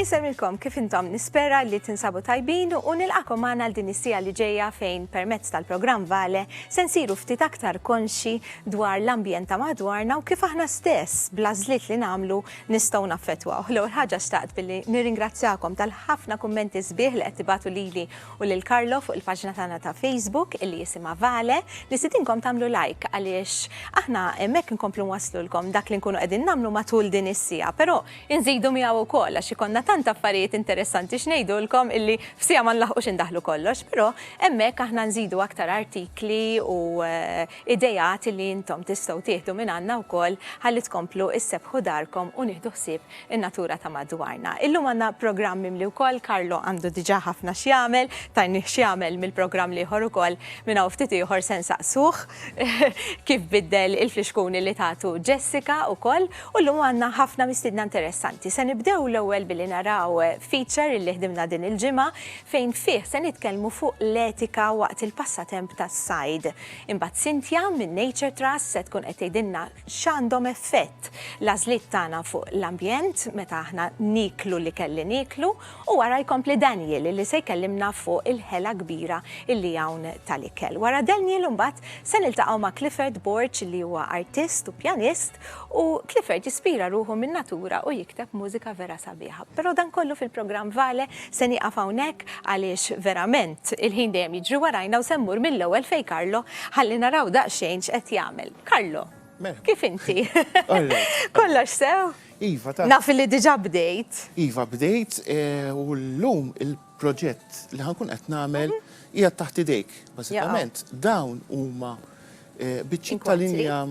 Insemmilkom kif intom nispera li tinsabu tajbin u nilqakom għana l din is-sija li ġejja fejn permezz tal-programm Vale se nsiru ftit aktar konxi dwar l-ambjent ta' madwarna u kif aħna stess bla żliet li nagħmlu nistgħu naffettwaw. L-ewwel ħaġa xtaqt billi nirringrazzjakom tal-ħafna kummenti sbieħ li qed tibatu lili u lil Carlo fuq il-paġna tagħna ta' Facebook illi jisimha Vale, nistidinkom tagħmlu like għaliex aħna hemmhekk inkomplu nwasslulkom dak li nkunu qegħdin nagħmlu matul din is-siegħa, però inżidu miegħu wkoll għax ikollna tant affarijiet interessanti x'ngħidulkom illi f'siegħa ma nlaħqux indaħħlu kollox, però hemmhekk aħna nżidu aktar artikli u ideat illi intom tistgħu tieħdu mingħandna wkoll ħalli tkomplu issebbħu darkom u nieħdu ħsieb in-natura ta' madwarna. Illum għandna programm mimli wkoll, Carlo għandu diġà ħafna x'jagħmel, tajnih x'jagħmel mill-programm l-ieħor ukoll, minn hawn ftit ieħor se nsaqsuh kif biddel il-flixkuni li tatu Jessica ukoll, u llum għandna ħafna mistiedna interessanti. Se nibdew l-ewwel billi naraw feature illi ħdimna din il-ġimgħa fejn fih se nitkellmu fuq l-etika waqt il-passatemp tas-sajd. Imbagħad Cynthia minn Nature Trust se tkun qed tgħidilna x'għandhom effett l-għażliet tagħna fuq l-ambjent meta aħna nieklu l-ikel li nieklu u wara jkompli Daniel li se jkellimna fuq il-ħela kbira li hawn tal-ikel. Wara Daniel imbagħad se niltaqgħu ma' Clifford Borg li huwa artist u pjanist u Clifford jispira ruħu min-natura u jikteb mużika vera sabiħa. Però dan kollu fil-programm Vale Se nieqaf hawnhekk għaliex verament il-ħin dejjem jiġri warajna u se mmur mill-ewwel fejn Carlo ħalli naraw daqsxejn x'qed jagħmel. Carlo, kif inti? Kollox sew? Iva, ta. Naf li diġà bdejt. Iva, bdejt u llum il-proġett li ħankun qed nagħmel qiegħed taħt idejk. Bażikament dawn huma biċċiet ta' linja.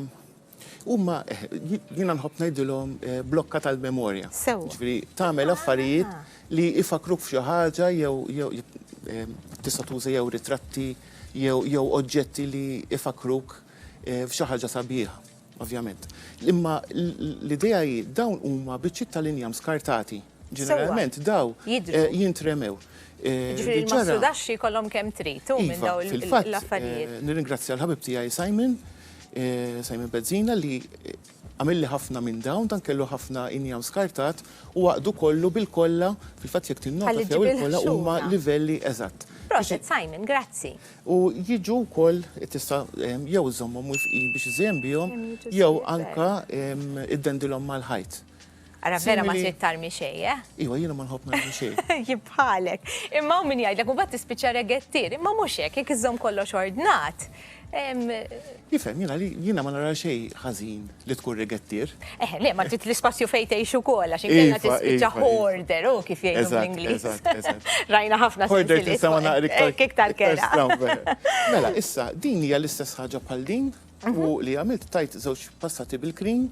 Huma jiena nħobb ngħidilhom eh, blokka tal-memorja. Sew. Ġifieri tagħmel affarijiet ah. li ifakruk f'xi ħaġa jew eh, tista' tuża jew ritratti jew oġġetti li ifakruk eh, f'xi ħaġa sabiħa, ovvjament. Imma l-idea hi dawn huma biċċiet tal-injam skartati Ġeneralment daw jintremew. Jiġifieri l-massudaxxi jkollhom kemm trid hu minn daw l-affarijiet. Fil-fatt nirringrazzja l-ħabib tiegħi Simon, Simon Bezzina li għamilli ħafna minn dawn, dan kellu ħafna injam skartat u għaqdu kollu bil-kolla, fil-fatt jekk tinnota sew il-kolla huma livelli eżatt. Proset Simon, grazzi. U jiġu wkoll tista' jew iżżommhom mwiffqin biex iżejjen bihom jew anke iddendilhom mal-ħajt. Ara vera ma trid tarmi xej, eh? Iwa, jiena ma nħobb narmi xej. Jibħalek. Imma u min jgħidlek u bat tispiċċa regettir, imma mhux hekk, jekk iżżomm kollox ordnat. Jifhem, jiena li jiena ma nara xej ħażin li tkun regettir. Eh, le, ma trid l-ispazju fejn tgħix ukoll għax inkella tispiċċa hoarder, u kif jgħidu bl-Ingliż. Rajna ħafna Hoarder tista' ma naqra iktar. Iktar kera. Mela, issa, din hija l-istess ħaġa bħal din? U li għamilt tajt żewġ passati bil-green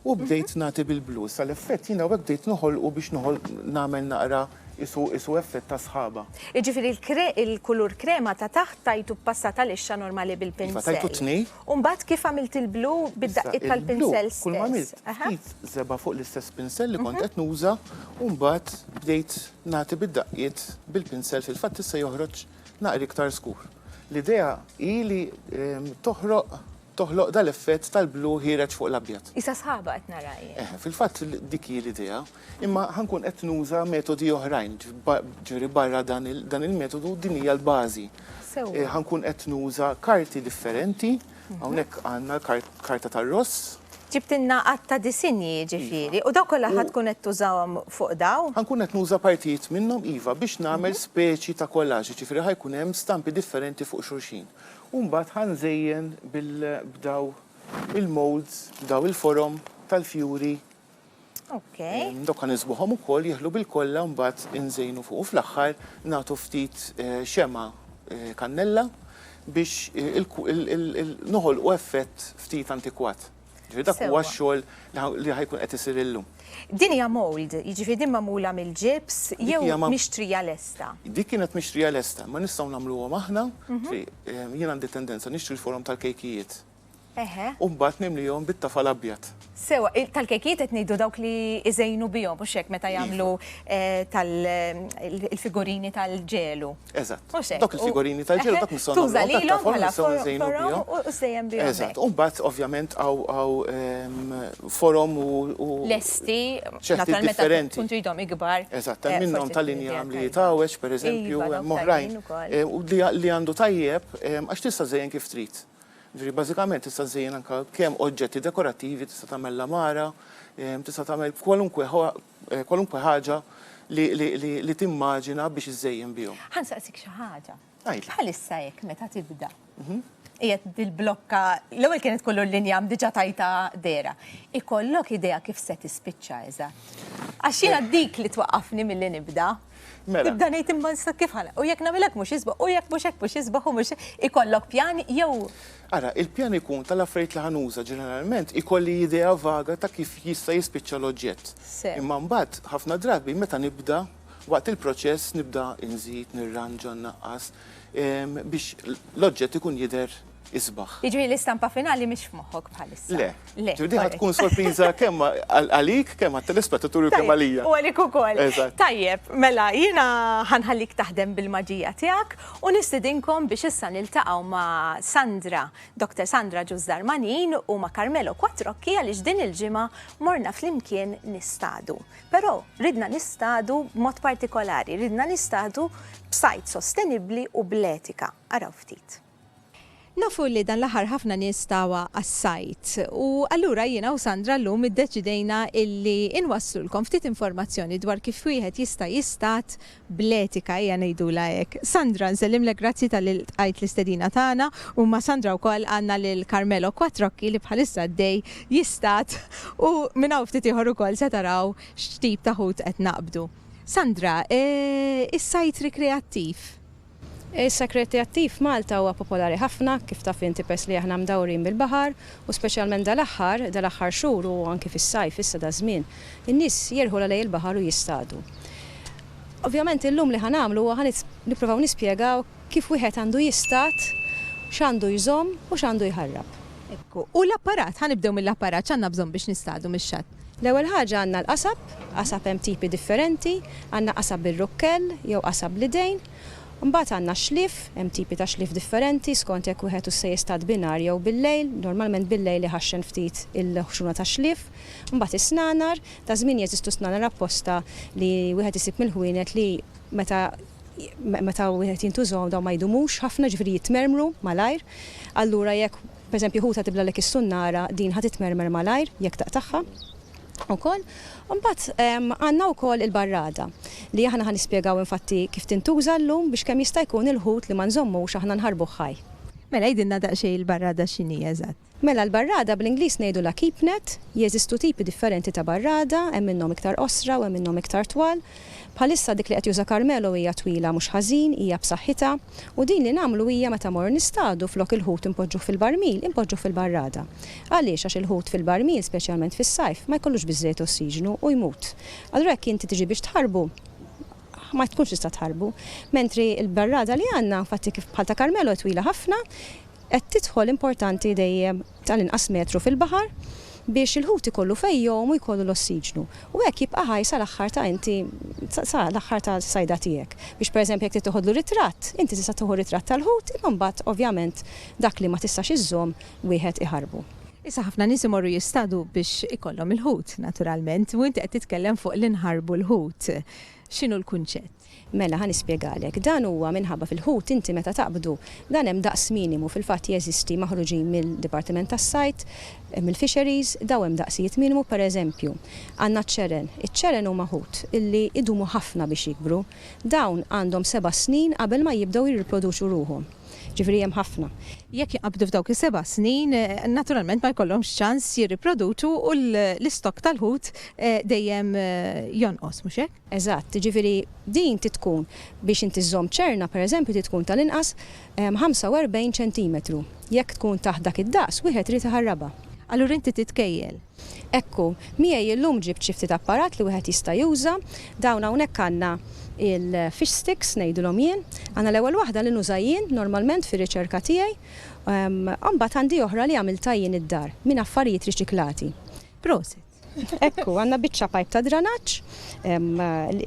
u bdejt nagħti bil-blu. Sa l-effett jiena hekk bdejt noħolqu biex noħol nagħmel naqra isu isu effett ta' sħaba. Jiġifieri l-kulur krema ta' taħt tajtu b'passata lixxa normali bil-pinsell. Iva tajtu tnej. U mbagħad kif għamilt il-blu bid-daqqiet tal-pinsell stess? Kull ma għamilt ftit żebgħa fuq l-istess pinsell li kont qed nuża u mbagħad bdejt nagħti bid-daqqiet bil-pinsell fil-fatt issa joħroġ naqra iktar skur. L-idea hi li toħroq toħloq dal-effett tal-blu ħiereġ fuq l-abjad. Isa sħaba qed nara jien. Fil-fatt dik hi l-idea, imma ħankun qed nuża metodi oħrajn, ġifieri barra dan il-metodu din hija l-bażi. Sewwa. Ħankun qed nuża karti differenti Hawnhekk għandna l-karta tar-ross. Ġibtilna għadd ta' disinji jiġifieri, u daw kollha ħa tkun qed tużahom fuq daw? Ħankun qed nuża partijiet minnhom iva biex nagħmel speċi ta' collage, jiġifieri ħa jkun hemm stampi differenti fuq xulxin. U mbagħad ħa nżejjen b'daw il-moulds, b'daw il-forom tal-fjuri. Okej. Dawk ħa nisbuħhom ukoll jeħlu bil-kollha mbagħad inżejnu fuq u fl-aħħar nagħtu ftit xemgħa kannella biex noħolqu effett ftit antikwat. Ġifieri dak huwa x-xogħol li ħa jkun qed isir illum. Din hija mould, jiġifieri din magħmula mill-ġibs jew mixtrija lesta? Dik kienet mixtrija lesta, imma nistgħu nagħmluhom aħna, jiena għandi tendenza nixtri l-forom tal-kejkijiet Eħe. U mbagħad nimlihom bit-tafal abjad. Sewwa, tal-kejkijiet qed ngħidu dawk li iżejnu bihom, mhux hekk meta jagħmlu tal-figurini tal-ġelu. Eżatt. Mhux hekk. Dawk il-figurini tal-ġelu dak nistgħu nagħmluhom tat-tafal. Tuża lilhom bħala forom u żejjen bihom. Eżatt. U mbagħad ovvjament hawn forom u. Lesti. Ċerti differenti. Tkun tridhom ikbar. Eżatt. Hemm minnhom tal-injam li jitgħawweġ, pereżempju, hemm oħrajn li għandu tajjeb għax tista' żejjen kif trid. Jiġifieri bażikament tista' żżejjen anke kemm oġġetti dekorattivi, tista' tagħmel l-għamara, tista' tagħmel kwalunkwe kwalunkwe ħaġa li li li timmaġina biex iżżejjen bihom. Ħa nsaqsik xi ħaġa. Għidli. Bħalissa hekk meta tibda. Qiegħed bil-blokka, l-ewwel kienet kollu l-linjam diġà tajtha dehra. Ikollok idea kif se tispiċċa eżatt? Għax jiena dik li twaqqafni milli nibda. Mela. Tibda ngħid imma issa kif ħana. U jekk nagħmilek mhux isbaħ, u jekk mhux hekk mhux isbaħ u mhux ikollok pjan jew. Ara, il-pjan ikun tal-affarijiet li ħanuża ġeneralment ikolli idea vaga ta' kif jista' jispiċċa l-oġġett. Imma mbagħad ħafna drabi meta nibda waqt il-proċess nibda inżid, nirranġa, nnaqqas biex l-oġġett ikun jidher Isbaħ. Jiġri l-istampa finali mhix f'moħħok bħalissa. Le. Le. Ġudi tkun sorpriża kemm għalik, kemm għat-telespettaturi u kemm għalija. U għalik ukoll. Tajjeb, mela jiena ħanħallik taħdem bil-maġija tiegħek u nistidinkom biex issa niltaqgħu ma' Sandra, Dr. Sandra Ġużdar Manin u ma' Carmelo Quattrocchi għaliex din il-ġimgħa morna flimkien nistadu. Però ridna nistadu b'mod partikolari, ridna nistadu b'sajd sostenibbli u bl-etika. Araw ftit. Nafu li dan l-aħħar ħafna nies tawha għas-sajd u allura jiena u Sandra llum iddeċidejna illi nwasslulkom ftit informazzjoni dwar kif wieħed jista' jistad bl-etika ejja ngħidulha hekk. Sandra nsellimlek grazzi talli ltqajt l-istedina tagħna u ma' Sandra wkoll għandna lil Carmelo Quattrocchi li bħalissa għaddej jistad u minn hawn ftit ieħor ukoll se taraw x'tip ta' ħut qed naqbdu. Sandra, is-sajd rikreattiv Is-Sakk Rekreattiv f'Malta huwa popolari ħafna, kif taf inti peress li aħna mdawrin bil-baħar, u speċjalment dal-aħħar, dal-aħħar xhur u anki fis-sajf issa daż-żmien, in-nies jirħulha lejn il-baħar u jistadu. Ovvjament illum li ħa nagħmlu huwa ħa nipprovaw nispjegaw kif wieħed għandu jistad, x'għandu jżomm u x'għandu jħarrab. Ekku. U l-apparat, ħa nibdew mill-apparat, x'għandna bżonn biex nistadu mix-xatt? L-ewwel ħaġa għandna l-qasab, qasab hemm tipi differenti, għandna qasab bir-rukkell jew qasab bl-idejn. Imbagħad għandna x-xlief, hemm tipi ta' xlief differenti skont jekk wieħed hu se jistad binhar jew bil-lejl, normalment bil-lejl iħaxxen ftit il-ħxuna tax-xlief. Imbagħad is-snanar, ta' żmien jeżistu snanar apposta li wieħed isib mill-ħwienet li meta meta wieħed jintużahom dawn ma jdumux ħafna, jiġifieri jitmermru malajr. Allura jekk Pereżempju, ħuta tiblalek is-sunnara, din ħa titmermer malajr jekk taqtagħha wkoll. U mbagħad għandna wkoll il-barrada, li aħna ħa nispjegaw infatti kif tintuża llum biex kemm jista' jkun il-ħut li ma nżommux aħna nħarbuh ħaj. Mela għidilna daqsxejn il-barrada x'inhi eżatt. Mela l-barrada bl-Ingliż ngħidulha keep net, jeżistu tipi differenti ta' barrada, hemm minnhom iktar qosra u hemm minnhom iktar twal. Bħalissa dik li qed juża Carmelo hija twila mhux ħażin, hija b'saħħitha, u din li nagħmlu hija meta mmorru nistadu flok il-ħut inpoġġuh fil-barmil, inpoġġuh fil-barrada. Għaliex? Għax il-ħut fil-barmil, speċjalment fis-sajf, ma jkollux biżżejjed ossiġnu u jmut. Allura jekk inti tiġi biex tħarrbu, ma tkunx tista' tħarrbu. Mentri l-barrada li għandna, infatti kif bħal ta' Carmelo hi twila ħafna, qed tidħol importanti dejjem tal-inqas metru fil-baħar biex il-ħut ikollu fejn jgħum u jkollu l-ossiġnu u hekk jibqa' ħaj sal-aħħar ta' inti sa l-aħħar tas-sajda tiegħek. Biex pereżempju jekk trid toħodlu ritratt, inti tista' tieħu ritratt tal-ħut imma mbagħad ovvjament dak li ma tistax iżżomm wieħed iħarrbu. Issa ħafna nies imorru jistadu biex ikollhom il-ħut naturalment u inti qed titkellem fuq li nħarrbu l-ħut. X'inhu l-kunċett? Mela, ħa nispjegalek. Dan huwa minħabba fil-ħut inti meta taqbdu, dan hemm daqs minimu, fil-fatt jeżisti maħruġin mid-Dipartiment tas-Sajd, mill-Fisheries, daw hemm daqsijiet minimu, pereżempju, għandna ċ-ċeren. Iċ-ċeren huma ħut li jdumu ħafna biex jikbru. Dawn għandhom seba' snin qabel ma jibdew jirriproduċu ruħhom. Ġifieri hemm ħafna. Jekk jaqbdu f'dawk is-seba' snin, naturalment ma jkollhomx ċans jirriproduċu u l-istokk tal-ħut dejjem jonqos, mhux hekk? Eżatt, jiġifieri din trid tkun, biex inti żżomm ċerna pereżempju trid tkun tal-inqas 45 ċentimetru. Jekk tkun taħt dak id-daqs, wieħed irid iħarrabha. Allura inti titkejjel. Ekku, miegħi illum ġibt xi ftit apparat li wieħed jista' juża. Dawn hawnhekk għandna il-fish sticks ngħidulhom jien. Għandna l-ewwel waħda li nuża jien normalment fir-riċerka tiegħi. U mbagħad għandi oħra li għamiltha jien id-dar, minn affarijiet riċiklati. Prosit! Ekku, għandna biċċa pajp ta' dranaġġ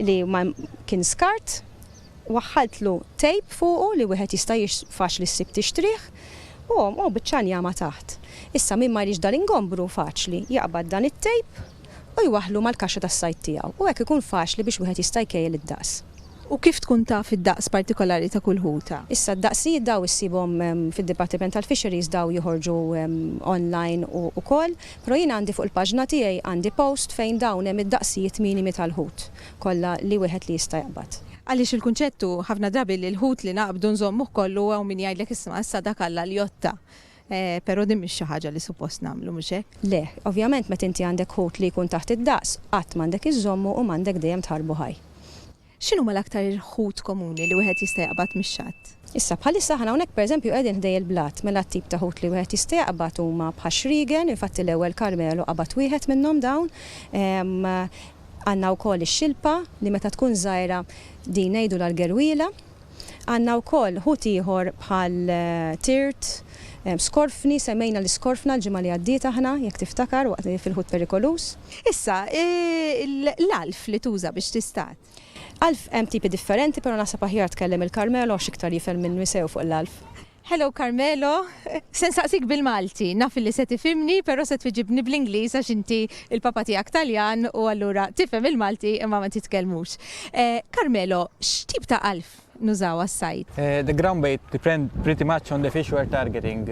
li ma kien skart, waħħaltlu tejp fuqu li wieħed jista' faċli ssib tixtrih, u hom u biċċa njama taħt. Issa min ma jridx dal-ingombru faċli jaqbad dan it-tejp u jwaħħlu mal-kaxxa tas-sajd tiegħu u hekk ikun faċli biex wieħed jista' jkejjel id-daqs. U kif tkun taf id-daqs partikolari ta' kull ħuta? Issa d-daqsijiet daw issibhom fid-Dipartiment tal-Fisheries daw joħorġu online ukoll, però jiena għandi fuq il-paġna tiegħi għandi post fejn dawn hemm id-daqsijiet minimi tal-ħut kollha li wieħed li jista' jaqbad. Għaliex il-kunċett hu ħafna drabi li l-ħut li naqbdu nżommuh kollu u hawn min jgħidlek isma' issa dak Alla l-jotta Però din mhix xi ħaġa li suppost nagħmlu, mhux hekk? Le. Ovvjament meta inti għandek ħut li jkun taħt id-daqs, qatt m'għandek iżżommu u m'għandek dejjem tħarrbu ħaj. X'inhuma l-aktar ħut komuni li wieħed jista' jaqbad mix-xatt? Issa, bħalissa aħna hawnhekk pereżempju qegħdin ħdej il-blat, mela t-tip ta' ħut li wieħed jista' jaqbad huma bħax-xriegen, infatti l-ewwel Carmelo qabad wieħed minnhom dawn. Għandna wkoll ix-xilpa li meta tkun żgħira din ngħidulha l-gerwiela. Għandna wkoll ħut ieħor bħal tirt, skorfni, semmejna l-iskorfna l-ġimgħa li għaddiet aħna, jekk tiftakar, waqt fil-ħut perikoluż. Issa, l-għalf li tuża biex tistad. Għalf hemm tipi differenti, però naħseb aħjar tkellem il-Carmelo għax iktar jifhem minni sew fuq l-għalf. Hello Carmelo, se nsaqsik bil-Malti, naf li se tifhimni però se twiġibni bl-Ingliż għax inti l-papa tiegħek Taljan u allura tifhem il-Malti imma ma titkellmux. Carmelo, x'tip ta' għalf nużaw għas-sajd? The ground bait depend pretty much on the fish we're targeting.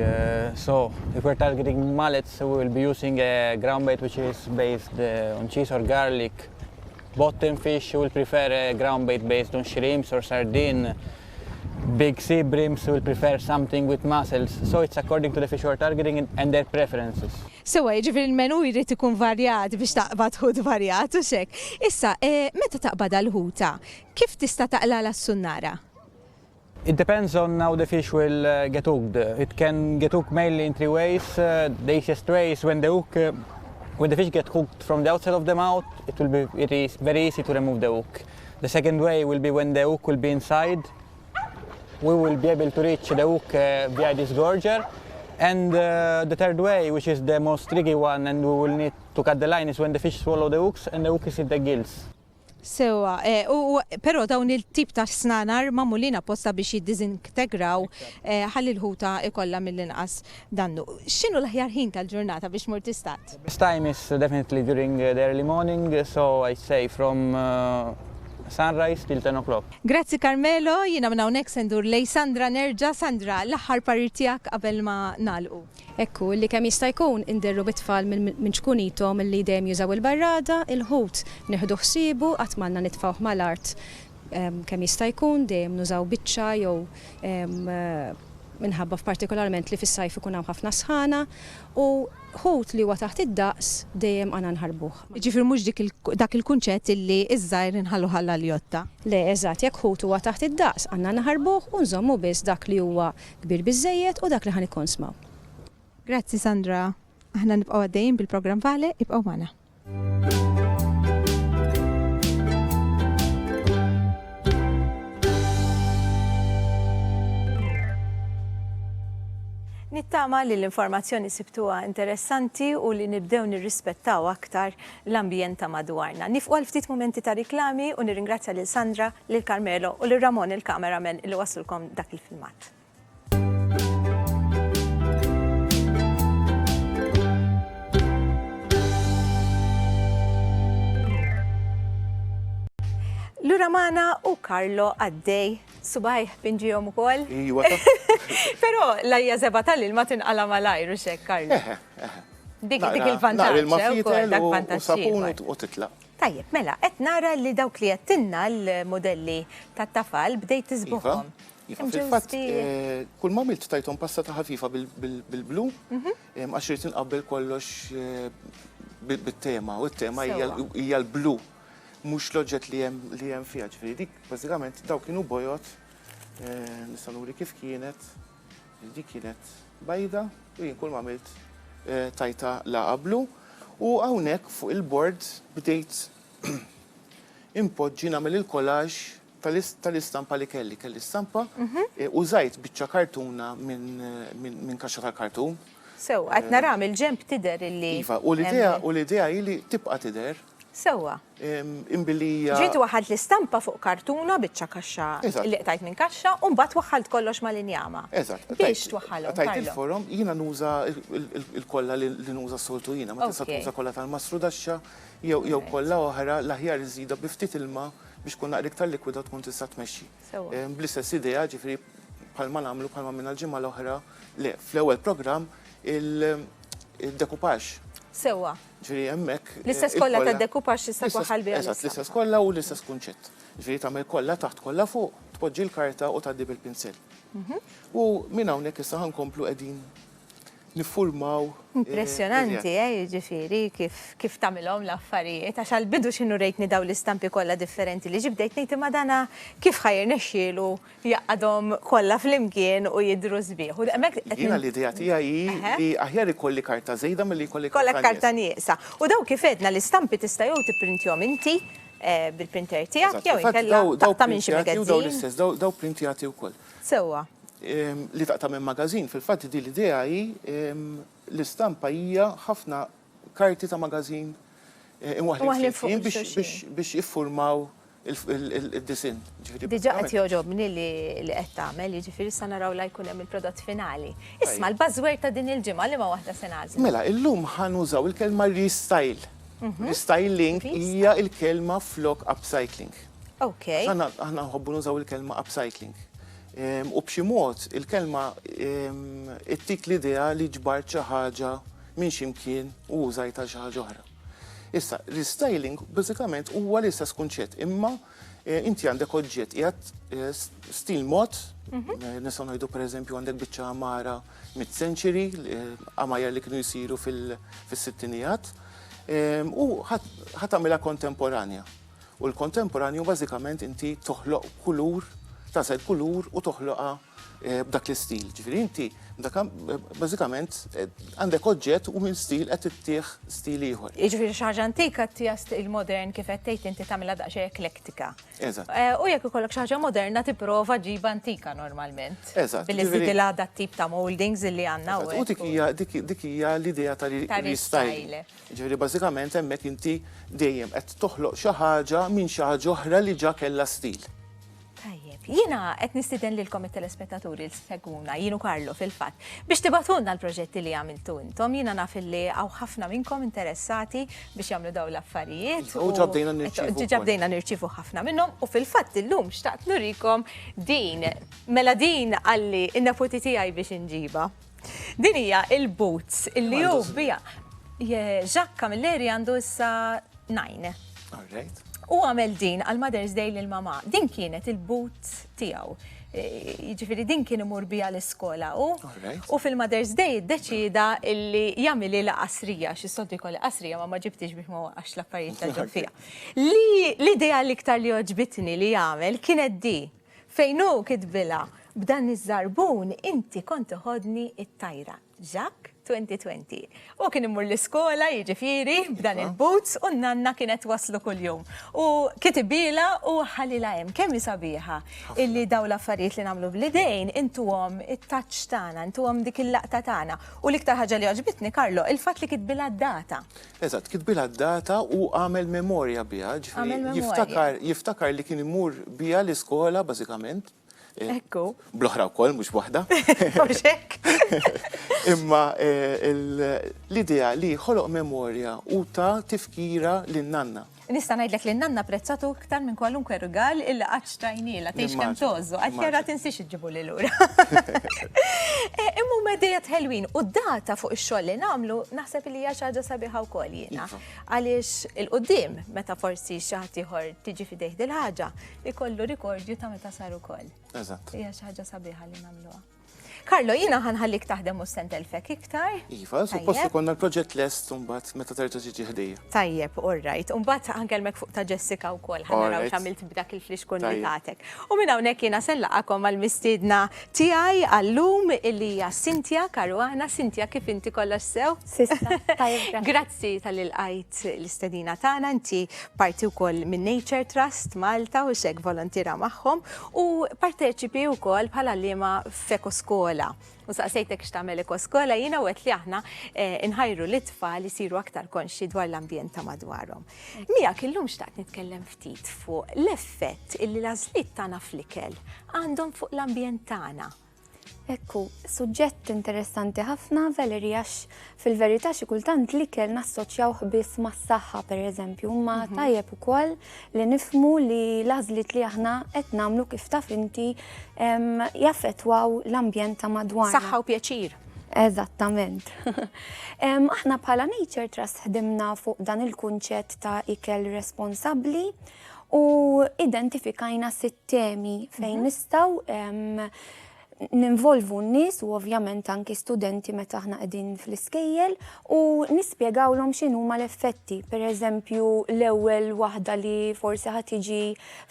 So, if we're targeting mullets we will be using a ground bait which is based on cheese or garlic. Bottom fish will prefer a ground bait based on shrimps or sardine. big sea breams will prefer something with mussels, so it's according to the fish who are targeting it and their preferences. Sewwa, jiġifieri l-menù jrid ikun varjat biex taqbad ħut varjat, hux hekk? Issa, meta taqbad għal ħuta, kif tista' taqlagħla s-sunnara? It depends on how the fish will get hooked. It can get hooked mainly in three ways. The easiest way is when the hook, when the fish get hooked from the outside of the mouth, it will be very easy to remove the hook. The second way will be when the hook will be inside, we will be able to reach the hook uh, via this gorger. And uh, the third way, which is the most tricky one and we will need to cut the line, is when the fish swallow the hooks and the hook is in the gills. Sewa, eh, u pero dawn il-tip ta' snanar mamulina posta biex jiddizintegraw eh, ħalli l-ħuta ikolla mill-inqas Dannu, X'inhu l-aħjar ħin tal-ġurnata biex mur tistad? Best time is definitely during the early morning, so I'd say from sunrise till ten o'clock. Grazzi Carmelo, jiena minn hawnhekk se ndur lejn Sandra nerġa', Sandra, l-aħħar parir tiegħek qabel ma nagħlqu. Hekk hu, li kemm jista' jkun inderru bit-tfal minn ċkunithom li dejjem jużaw il-barrada, il-ħut nieħdu ħsiebu qatt m'għandna nitfgħuh mal-art, Kemm jista' jkun, dejjem nużaw biċċa jew minħabba f'partikolarment li fis-sajf ikun hawn ħafna sħana u ħut li huwa taħt id-daqs dejjem għandna nħarbuh. Jiġifieri mhux dik dak il-kunċett illi ż-żgħir inħalluh għall-għaljotta. Le, eżatt, jekk ħut huwa taħt id-daqs għandna naħarbuh u nżommu biss dak li huwa kbir biżżejjed u dak li ħa nikkonsmaw. Grazzi Sandra. Aħna nibqgħu għaddejjin bil-programm Vale, ibqgħu magħna. Nittama li l-informazzjoni sibtuha interessanti u li nibdew nirrispettaw aktar l-ambjent ta' madwarna. Nifqu għal ftit mumenti ta' riklami u nirringrazzja lil Sandra, lil Carmelo u lil Ramon il-cameraman li waslulkom dak il-filmat. Lura mana u Karlo għaddej subaj pinġijom u kol. Iwa. Pero lajja zeba tal-ilma tinqala malajr u xek, Karlo. Eh, eh, eh. Dik dik il-vantaġġ. Il-mafita sapun u titla. Tajjeb, mela, qed nara li dawk li jettinna l-modelli tat-tafal bdejt tiżbuħhom. Iva. Iva, fil-fatt, eh, kull ma milt tajtom pasta ta' ħafifa bil-blu, mhm. eh, għax rrit nqabbel kollox eh, bit-tema, u t-tema hija l-blu, mux loġet li jem fija ġifiri. Dik, bazzikament, daw kienu bojot, nistanuri kif kienet, dik kienet bajda, u jien kull ma milt tajta la qablu, u għawnek fuq il-bord bdejt impoġġi namel il-kolaġ tal-istampa li kelli, kelli stampa, użajt biċċa kartuna minn kaxxa tal-kartun. Sew, qed nara mill-ġenb tidher illi. Iva, u l-idea u l-idea hi li tibqa' tidher. Sewwa. Imbilli hija. Ġejt waħad l-istampa fuq kartuna biċċa kaxxa li qtajt minn kaxxa u mbagħad waħħalt kollox mal-injama. Eżatt. Biex twaħħalhom. Tajt il-forom, jiena nuża l-kollha li nuża s-soltu jiena, ma tista' tuża kollha tal-mastrudaxxa jew kollha oħra l-aħjar iżidha bi ftit ilma biex tkun naqra iktar likwida u tkun tista' tmexxi. Bl-istess idea, ġifieri bħalma nagħmlu bħalma minna l-ġimgħa l-oħra, le, fl-ewwel programm il-dekupax. Sewwa. Ġifieri hemmhekk. L-istess kollha tad-dekupax tista' twaħħal biha. Eżatt, l-istess kollha u l-istess kunċett. Ġifieri tagħmel kollha taħt kollha fuq, tpoġġi l-karta u tgħaddi bil-pinsel. Mhm. U minn hawnhekk issa ħankomplu qegħdin niffurmaw. Impressjonanti, eh, jiġifieri kif kif tagħmilhom l-affarijiet, għax għall-bidu x'inhu rejtni dawn l-istampi kollha differenti li ġibt bdejt ngħid imma dana kif ħa jirnexxielu jgħaqqadhom kollha flimkien u jidhru sbieħ. U hemmhekk qed Jiena l-idea tiegħi hi li aħjar ikolli karta żejda milli jkolli karta Kollek karta nieqsa. U dawn kif għedna l-istampi tista' jew tipprintjhom inti eh, bil-printer tiegħek jew inkella taqta' minn xi Daw l-istess, daw printjati wkoll. Sewwa. Li taqta' minn magażin, fil-fatt din l-idea hi l-istampa hija ħafna karti ta' magażin imwaħħlin flimkien biex jiffurmaw id-disinn. Diġà qed jogħġobni li qed tagħmel, jiġifieri sa naraw la jkun hemm il-prodott finali. Isma' l-buzzword ta' din il-ġimgħa liema waħda se nagħżlu? Mela, illum ħa nużaw il-kelma restyle. Restyling hija l-kelma flok upcycling. Ok. Aħna aħna nħobbu nużaw il-kelma upcycling. Ehm, u b'xi mod il-kelma ehm, ittik l-idea li ġbart xi ħaġa minn ximkien u użajta xi ħaġa oħra. Issa, restyling bażikament huwa l-istess kunċett, imma eh, inti għandek oġġett qiegħed eh, s- stil mod, Mhm. eh, nistgħu ngħidu pereżempju għandek biċċa għamara mid-century, għamajer li kienu jsiru fil- fis-sittinijat, ehm, u ħat- ħat tagħmilha kontemporanja. U l-kontemporanju bażikament inti toħloq kulur, tasal kulur u toħloqha b'dak l-istil. Ġifieri inti bażikament għandek oġġett u minn stil qed ittih stil ieħor. Jiġifieri xi ħaġa antika ttiha stil modern kif qed tgħid inti tagħmilha daqsxejn eklektika. Eżatt. U jekk ikollok xi ħaġa moderna tipprova ġġib antika normalment. Eżatt. Billi żżidilha dat-tip ta' mouldings li għandna hawnhekk. U dik hija dik hija l-idea ta' restyle. Jiġifieri bażikament hemmhekk inti dejjem qed toħloq xi ħaġa minn xi ħaġa oħra li ġa kellha stil. Tajjeb, jiena qed nistieden lilkom it-telespettaturi li segwuna, jien u Karlo fil-fatt, biex tibatulna l-proġetti li għamiltu intom, jiena naf li hawn ħafna minnkom interessati biex jagħmlu dawn l-affarijiet. U ġa bdejna nirċievu. Ġa bdejna nirċievu ħafna minnhom u fil-fatt illum xtaqt nurikom din. Mela din għalli n-neputi tiegħi biex inġibha. Din hija il-boots li hu bija. Ġakka mill-eri għandu issa nine. U għamel din għal Mother's Day lil mama. Din kienet il-boot tiegħu. E, jiġifieri din kien imur bija l-iskola u. U fil-Mother's Day iddeċida illi jagħmili la qasrija, xi soddu jkolli qasrija ma ma ġibtix biex ma waqax l-affarijiet ta' ġo fija. Li l-idea l-iktar li oġbitni li jagħmel kienet di. Fejn hu kitbilha, B'dan iż-żarbun inti kont iħoddni t-tajra. Jacques, 2020. Hu kien imur l-iskola, jiġifieri, b'dan il-boots u n-nanna kienet twasslu kuljum. U kitibilha u ħalilha hemm. Kemm hi sabiħa illi dawn l-affarijiet li nagħmlu bl-idejn intuhom it-touch tagħna, intuhom dik il-laqta tagħna. U l-iktar ħaġa li għoġbitni, Carlo, il-fatt li kitbilha d-data. Eżatt, kitbilha d-data u għamel memorja biha, ġifieri jiftakar, jiftakar li kien imur biha l-iskola bażikament. Ekku. Bl-oħra wkoll mhux waħda. Mhux hekk. Imma l-idea li ħoloq memorja u ta' tifkira lin-nanna. Nista' ngħidlek li n-nanna apprezzatu iktar minn kwalunkwe rigal illi qatt xtrajnielha, tgħidx kemm tgħożżu, għax jara tinsiex iġġibuli lura. Imma huma dejja tħelwin u data fuq ix-xogħol li nagħmlu naħseb li hija xi ħaġa sabiħa wkoll jiena. Iva. Għaliex il-qudiem meta forsi xi ħadd ieħor tiġi fidejh dil-ħaġa, ikollu rikordju ta' meta sar ukoll. Eżatt. Hija xi ħaġa sabiħa li nagħmluha. Carlo, jiena ħa nħallik taħdem mhux se ntelfek iktar. Iva, suppost ikollna l-proġett lest imbagħad meta terġa' tiġi ħdejja. Tajjeb, all right. Imbagħad ħankellmek fuq ta' Jessica wkoll ħa naraw x'għamilt b'dak il-flix kun li tagħtek. U minn hawnhekk jiena se nlaqgħakom mal-mistiedna tiegħi għallum illi hija Cynthia Caruana. Cynthia, kif inti kollox sew? Sista, tajjeb. Grazzi tal ilqajt l-istedina tagħna, inti parti wkoll minn Nature Trust Malta u xek volontira magħhom U parteċipi wkoll bħal għalliema f'Ekoskola. U saqsejtek x'tagħmel Ekoskola jiena wet li aħna eh, nħajru li tfal isiru aktar konxi dwar l-ambjent ta' madwarhom. Miegħek illum xtaqt nitkellem ftit fuq l-effett illi l-għażliet tagħna fl-ikel għandhom fuq l-ambjent tagħna Ekku, suġġett interessanti ħafna, Valerie, għax fil-verità xi kultant l-ikel nassoċjawh biss mas-saħħa pereżempju, imma mhm. tajjeb ukoll li nifmu li l-għażliet li aħna qed nagħmlu kif taf inti jaffettwaw l-ambjent ta' madwar. Saħħa u pjaċir. Eżattament. Aħna bħala Nature Trust ħdimna fuq dan il-kunċett ta' ikel responsabli U identifikajna sitt temi fejn mhm. nistaw ninvolvu n-nis u ovvjament anki studenti meta aħna qegħdin fl-iskejjel u nispjegawlhom x'inhu ma l-effetti. Per eżempju, l-ewwel waħda li forsi ħad tiġi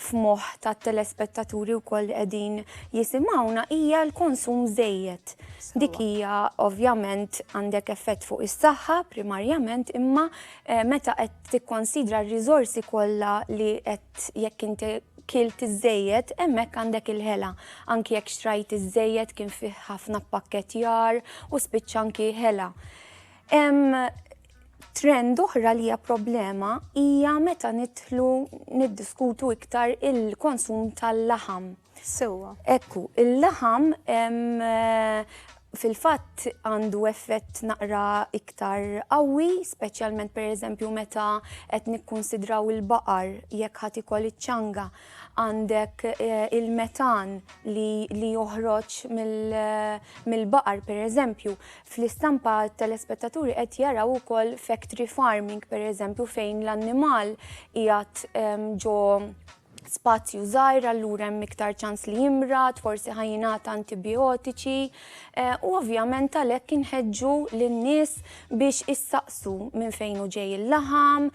f'moħħ tat-telespettaturi wkoll qegħdin jisimgħuna hija l-konsum żejjed. Dik hija ovvjament għandek effett fuq is-saħħa primarjament imma eh, meta qed tikkonsidra r-riżorsi kollha li qed jekk inti kilt iżejjed hemmhekk għandek il-ħela. Anki jekk xtrajt iżejjed kien fih ħafna pakkettjar u spiċċa anki ħela. Hemm trend oħra li hija problema hija meta nidħlu niddiskutu iktar il-konsum tal-laħam. Sewwa. Ekku, il-laħam fil-fatt għandu effett naqra iktar qawwi, speċjalment per eżempju meta qed nikkunsidraw il-baqar jekk ħadd ikol iċ-ċanga għandek eh, il-metan li joħroġ mill-baqar per eżempju. Fl-istampa telespettaturi qed jaraw ukoll factory farming per eżempju fejn l-annimal qiegħed ġo spazju żgħir allura hemm iktar ċans li jimrad, forsi ħajjingħata antibiotiċi eh, u ovvjament għalhekk inħeġġu lin-nies biex issaqsu minn fejn u ġej il-laħam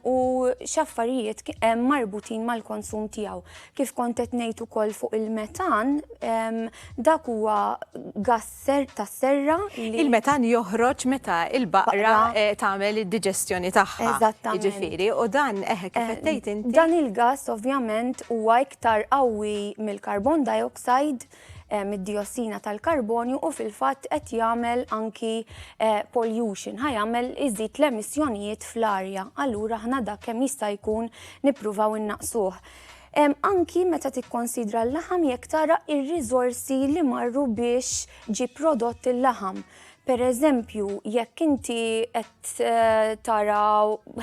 u x'affarijiet hemm marbutin mal-konsum tiegħu. Kif kont qed ngħid ukoll fuq il-metan, dak huwa gas serr tas-serra li. Il-metan joħroġ meta l-baqra tagħmel id-diġestjoni tagħha. Eżattament. Jiġifieri, u dan eħe kif qed tgħid inti. Dan il-gass ovvjament huwa iktar qawwi mill-carbon dioxide, mid-diossina tal-karbonju u fil-fatt qed jagħmel anki pollution, ħa jagħmel iżid l-emissjonijiet fl-arja. Allura aħna dak kemm jista' jkun nippruvaw innaqqsuh. anki meta tikkonsidra l-laħam jekk tara r-riżorsi li marru biex ġie prodott il-laħam. Per eżempju, jekk inti qed eh, tara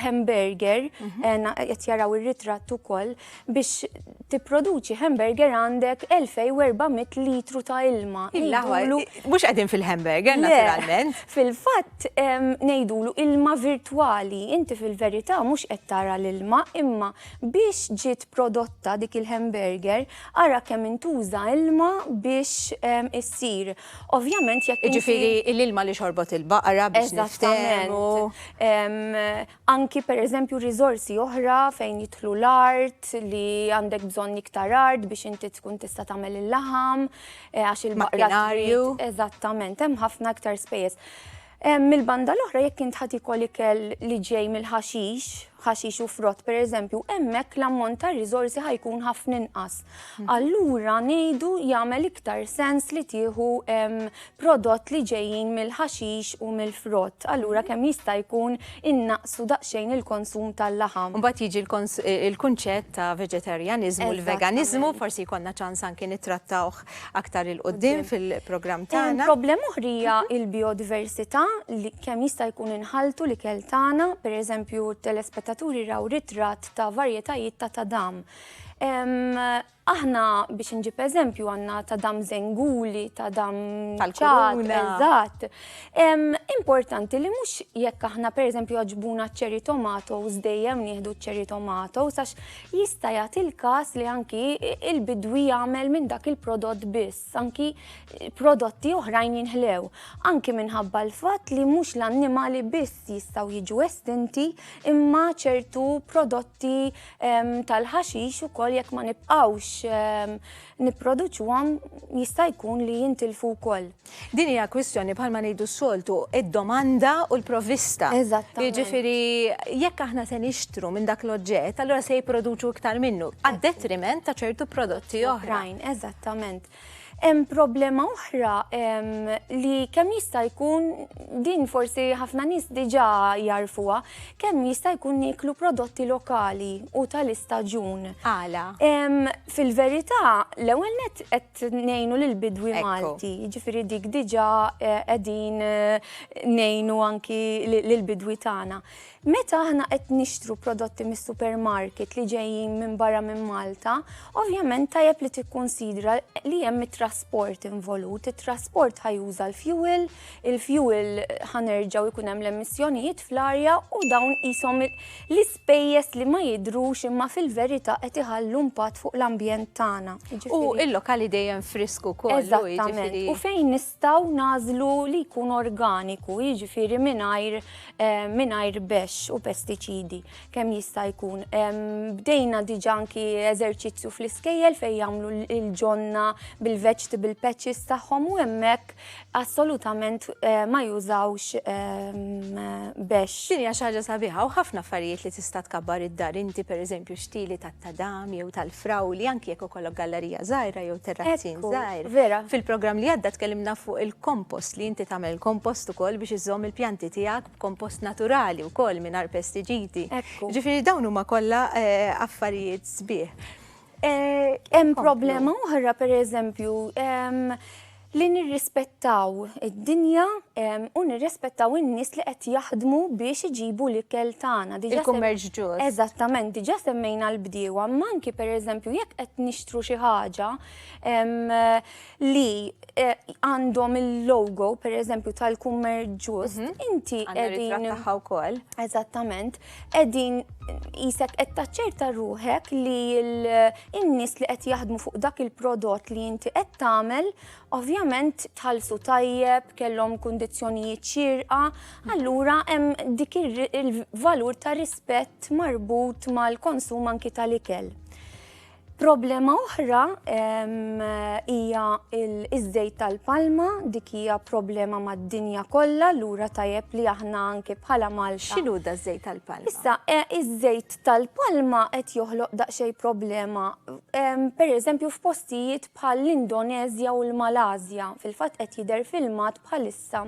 hamburger, mhm. eh, qed jaraw ir-ritratt ukoll, biex tipproduċi hamburger għandek 2400 litru ta' ilma. Mhux qegħdin fil-hamburger naturalment. Fil-fatt ngħidulu ilma virtwali, inti fil-verità mhux qed tara l-ilma imma Biex ġiet prodotta dik il-hamburger, ara kemm intuża ilma biex issir. Ovvjament jekk. Jiġifieri l-ilma li xorbot il-baqra biex niftehmu. Eżattament. Anki pereżempju riżorsi oħra fejn jidħlu l-art li għandek bżonn iktar art biex inti tkun tista' tagħmel il-laħam għax il-baqra. Makinarju. Eżattament, hemm ħafna iktar spejjeż. Mill-banda l-oħra jekk int ħa tiekol ikel li ġej mill-ħaxix, ħaxix u frott pereżempju, hemmhekk l-ammont ta' riżorsi ħa jkun ħafna inqas. Mhm. Allura ngħidu jagħmel iktar sens li tieħu prodott li ġejjin mill-ħaxix u mill-frott. Allura mhm. kemm jista' jkun innaqsu daqsxejn il-konsum tal-laħam. Mbagħad jiġi l-kunċett ta' veġetarjaniżmu l-veganiżmu, forsi jkollna ċans anki nittrattawh aktar 'il quddiem fil-programm tagħna. Problema oħra hija l-bijodiversità li kemm jista' jkun inħalltu l-ikel tagħna, pereżempju t-telespettaturi raw ritratt ta' varjetajiet ta' tadam. Aħna biex nġib eżempju għandna tadam żenguli, tadam ċat, eżatt. Importanti li mhux jekk aħna pereżempju għaġbuna ċ-cherry tomatoes dejjem nieħdu ċ-cherry tomatoes għax jista' jagħti l-każ li anki il-bidwi jagħmel minn dak il-prodott biss, anki prodotti oħrajn jinħlew, anki minħabba l-fatt li mhux l-annimali biss jistgħu jiġu estinti imma ċertu prodotti ehm, tal-ħaxix ukoll jekk ma nibqgħux ehm, nipproduċuhom jista' jkun li jintilfu wkoll. Din hija kwistjoni bħalma ngħidu s-soltu, id-domanda u l-provvista. Eżattament. Jiġifieri jekk aħna se nixtru minn dak l-oġġett, allura se jipproduċu iktar minnu, għad-detriment ta' ċertu prodotti oħrajn. Eżattament. Hemm problema oħra li kemm jista' jkun din forsi ħafna nies diġà jarfuha, kemm jista' jkun nieklu prodotti lokali u tal-istaġun. Għala? Fil-verità, l-ewwel net qed nejnu l-bidwi Malti, ġifiri dik diġa għedin nejnu anki l-bidwi tana. Meta aħna qed nixtru prodotti mis supermarket li ġejjin minn barra minn Malta, ovvjament tajjeb li tikkunsidra li hemm it-trasport involut, it-trasport ħajuża l-fuel, il-fuel ħanerġaw ikun hemm l-emissjonijiet fl-arja u dawn qishom l Spejjeż li ma jidhrux imma fil-verità qed iħallu impatt fuq l-ambjent tagħna. U l-lokali dejjem frisk ukoll. Eżattament. U fejn nistgħu nagħżlu li jkun organiku, jiġifieri mingħajr mingħajr bexx u pestiċidi kemm jista' jkun. Bdejna diġà anki eżerċizzju fl-iskejjel fejn jagħmlu l-ġonna bil-vegetable patches tagħhom u hemmhekk assolutament ma jużawx bex. Din hija xi ħaġa sabiħa u ħafna affarijiet li tista' tkabbar id-dar inti, pereżempju xtili tat-tadam jew tal-frawli anki jekk ikollok gallerija żgħira jew terrazzin żgħir. Vera. Fil-programm li għadda tkellimna fuq il-kompost li inti tagħmel kompost ukoll biex iżżomm il-pjanti tiegħek b'kompost naturali wkoll mingħajr pestiġiti. Ġifieri dawn huma kollha affarijiet sbieħ. Hemm problema oħra pereżempju li nirrispettaw id-dinja u nirrispettaw in-nies li qed jaħdmu biex iġibu l-ikel tagħna. Il-kummerċ ġust. Eżattament, diġà semmejna l-bdiewa, ma anki pereżempju jekk qed nixtru xi ħaġa li eh, għandhom il-logo pereżempju tal-kummerċ ġust, mhm. inti qegħdin. wkoll. Eżattament, qegħdin jisek qed taċċerta ruħek li l-nies li qed jaħdmu fuq dak il-prodott li inti qed tagħmel ovvjament tħallsu tajjeb, kellhom kundizzjonijiet xirqa, allura hemm dik il-valur ta' rispett marbut mal-konsum anki tal-ikel. Problema oħra hija l-iżżejt tal-palma, dik hija problema mad-dinja kollha, lura tajjeb li aħna anke bħala Malta. X'inhu da żejt tal-palma? Issa, e, iż-żejt tal-palma qed joħloq daqsxejn problema. Per eżempju f'postijiet bħal l-Indonezja u l-Malasja, fil-fatt qed jidher filmat bħal Issa,